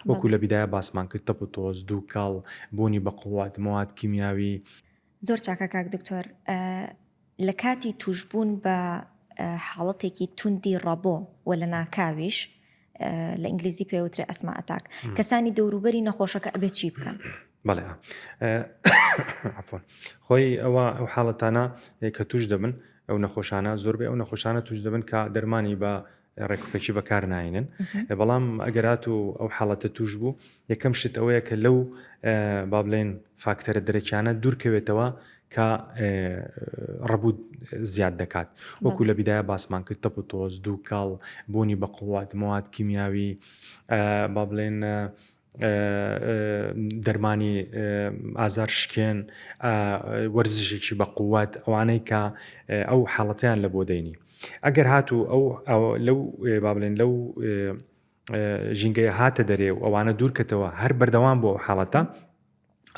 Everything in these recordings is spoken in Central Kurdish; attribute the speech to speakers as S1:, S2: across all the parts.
S1: وەکو لە بیدایە باسمان کرد تەپ و تۆز، دووکەڵ، بوونی بە قوت، مواد کیمیاوی. زۆر چاکە
S2: کاک دکتۆر لە کاتی توشبوون بە حاڵەتێکی توندی ڕەبۆ وە لە ناکاویش لە ئینگلیزی پێوترێ ئەسما ئەتاک کەسانی دەوروبەری نەخۆشەکە ئەبێ چی بکەن بەڵێ
S1: خۆی ئەوە ئەو حاڵەتانە کە توش دەبن ئەو نەخۆشانە زۆربەی ئەو نەخۆشانە توش دەبن کە دەرمانی بە ڕێکوپێکی بەکار ناینن بەڵام ئەگەرات و ئەو حاڵەتە توش بوو یەکەم شت ئەوەیە کە لەو با بڵێن فاکتەرە درەکیانە دوورکەوێتەوە کە ڕەبوت زیاد دەکات وەکو لە بیداە باسمان کرد تەپ و تۆز دوو کاڵ بوونی بە قووات موات کیمیاوی با بڵێن دەرمانی ئازار شکێن وەرزشێکی بە قووەت ئەوانەی کە ئەو حاڵەتیان لە بۆ دەینی ئەگەر هاتوو ئەو لەو با بڵێن لەو ژینگەیە هاتە دەرێ و ئەوانە دوورکەتەوە هەر بەردەوام بۆ حاڵەتە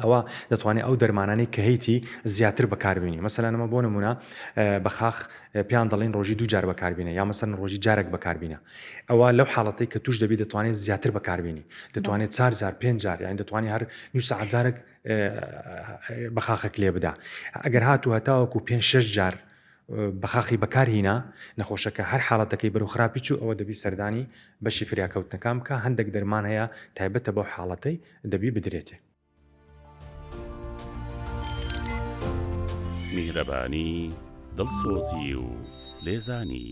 S1: ئەوا دەتوانێت ئەو دەرمانانەی کە هەیتی زیاتر بەکاربێنی مەسەلەن ئەمە بۆ نمونە بەخاخ پێیان دەڵین ڕۆژی دوو جار بەکاربینە یا مەسەن ڕۆژی جارێک بەکاربینە ئەوە لەو حاڵەتی کە توش دەبی دەتوانێت زیاتر بەکاربینی دەتوانێت چار جار پێنج جار یان دەتوانانی هەر نو سەعجارێک بەخاخێک لێ بدا ئەگەر هاتو هەتاوەکو پێ شش جار بەخاخی بەکارهینا نەخۆشەکە هەر حاڵەتەکەی بەرو خراپی چوو ئەوە دەبی سەردانی بەشی فریاکەوتنەکان بکە هەندێک دەرمان هەیە تایبەتە بەو حاڵەتەی دەبی بدرێتێ.
S3: میهرەبانی، دڵسۆزی و لێزانی.